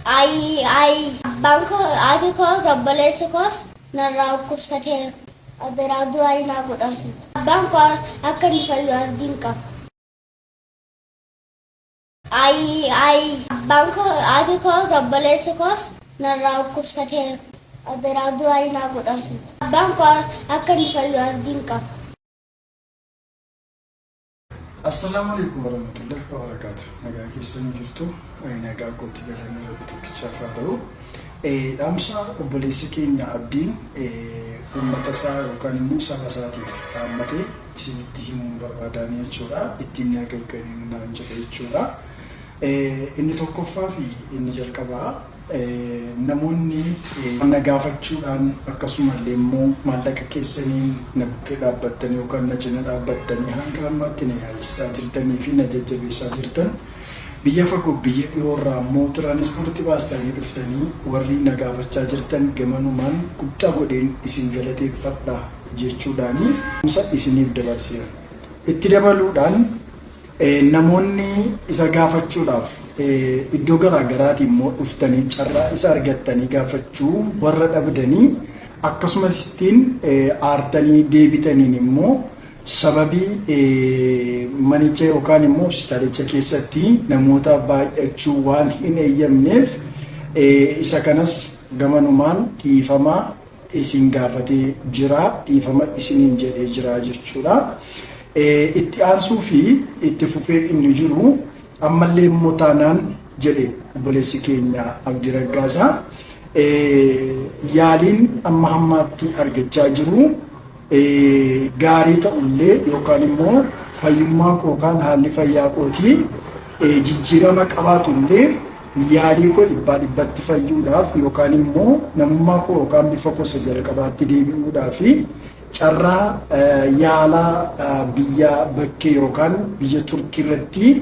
Ayii ayii abbaan koo haati koos obboleessi koos narraa dhukkubsateera adaraa du'aa inaa godhaafi abbaan koo akka inni fayyu abdiin qaba. Ayii ayii abbaan koo haati koos obboleessi koos narraa dhukkubsateera adaraa du'aa inaa godhaafi abbaan koo akka inni fayyu abdiin qaba. Assalaamu alaikum warahmatullahi wabarakaatu. Nagaa keessanii jirtu nagaa kootti galanni rabbi tokkichaaf haa ta'u. Dhaamsa obboleessi keenya abdiin uummata isaa yookaan immoo saba isaatiif dhaammatee isinitti himuun barbaadaan jechuudha. Ittiin nagaa eegganii naan jedha jechuudha. Inni tokkoffaa fi inni jalqabaa namoonni na gaafachuudhaan akkasuma illee immoo maallaqa keessaniin na bukkee dhaabbattanii yookaan na cina dhaabbattanii hanga ammaatti na yaalchisaa jirtanii fi na jajjabeessaa jirtan biyya fagoo biyya dhiyoo irraa immoo tiraanispoortii baastanii dhuftanii warri na gaafachaa jirtan gamanumaan guddaa godheen isin galateeffadha jechuudhaanii isa isiniif dabarseera. Itti dabaluudhaan Namoonni isa gaafachuudhaaf iddoo garaa garaatii immoo dhuftanii carraa isa argattanii gaafachuu warra dhabdanii akkasumas ittiin aartanii deebitaniin immoo sababii manicha yookaan immoo hospitaalicha keessatti namoota baay'achuu waan hin eeyyamneef isa kanas gamanumaan dhiifamaa isin gaafatee jira dhiifama isiniin jedhee jira jechuudha. Itti aansuu fi itti fufee inni jiru ammallee immoo taanaan jedhe obboleessi keenya Abdii Raggaasaa yaaliin amma hammaatti argachaa jiru gaarii ta'u illee yookaan immoo fayyummaa koo yookaan haalli fayyaa kootii jijjiirama qabaatu illee yaalii koo dhibbaa dhibbatti fayyuudhaaf yookaan immoo namummaa koo yookaan bifa koo isa jalqabaatti deebi'uudhaaf carraa yaalaa biyya bakkee yookaan biyya turkii irratti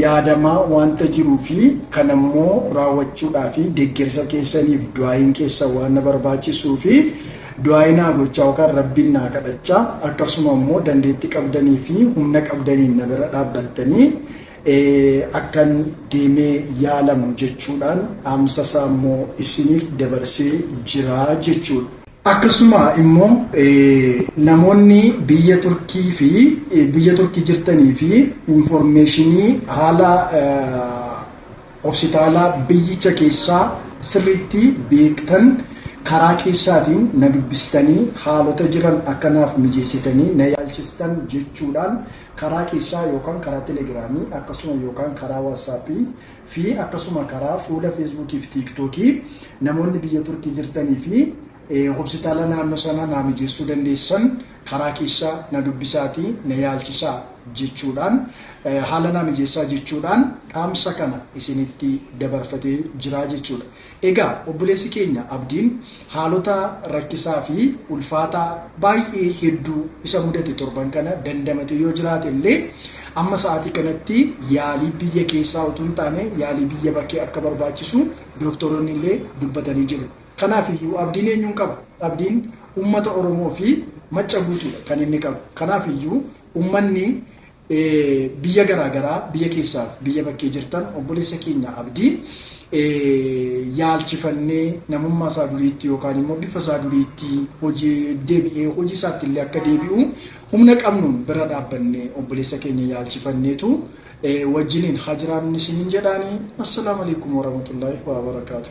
Yaadamaa wanta jiruu fi kan ammoo raawwachuudhaaf deggersa keessaniif du'aayiin keessan waan na barbaachisuu fi du'aayii naa gochaa yookaan rabbiin naa kadhachaa akkasuma immoo dandeetti qabdanii fi humna qabdaniin na bira dhaabbattanii akkan deemee yaalamu jechuudhaan dhaamsa isaa immoo isiniif dabarsee jira jechuudha. Akkasuma immoo namoonni biyya Turkii fi biyya Turkii jirtanii fi informeeshinii haala hospitaalaa biyyicha keessaa sirriitti beektan karaa keessaatiin na dubbistanii haalota jiran akka naaf mijeessitanii na yaalchistan jechuudhaan karaa keessaa yookaan karaa telegiraamii akkasuma yookaan karaa waatsaappii fi akkasuma karaa fuula feesbuukii fi tiiktookii namoonni biyya turkii jirtanii fi hobsitaala naannoo sana naa mijeessuu dandeessan karaa keessa na dubbisaatii na yaalchisaa jechuudhaan haala naa mijeessaa jechuudhaan dhaamsa kana isinitti dabarfatee jiraa jechuudha. Egaa obboleessi keenya Abdiin haalota rakkisaa fi ulfaataa baay'ee hedduu isa mudate torban kana dandamatee yoo jiraate illee amma sa'aatii kanatti yaalii biyya keessaa utuu hin taane yaalii biyya bakkee akka barbaachisu dooktaroonni illee dubbatanii jiru. Kanaaf iyyuu abdiin eenyuun qaba? Abdiin uummata Oromoo fi Macca guutuudha kan inni qabu. Kanaaf iyyuu uummanni biyya garaa garaa biyya keessaaf biyya bakkee jirtan obboleessa keenya abdii yaalchifannee namummaa isaa duriitti yookaan immoo bifa isaa duriitti hojii deebi'ee hojii isaatti illee akka deebi'u humna qabnuun bira dhaabbannee obboleessa keenya yaalchifanneetu wajjiniin haa jiraannu isiniin jedhaanii assalaamu alaikum warahmatullaahi wabarakaatu.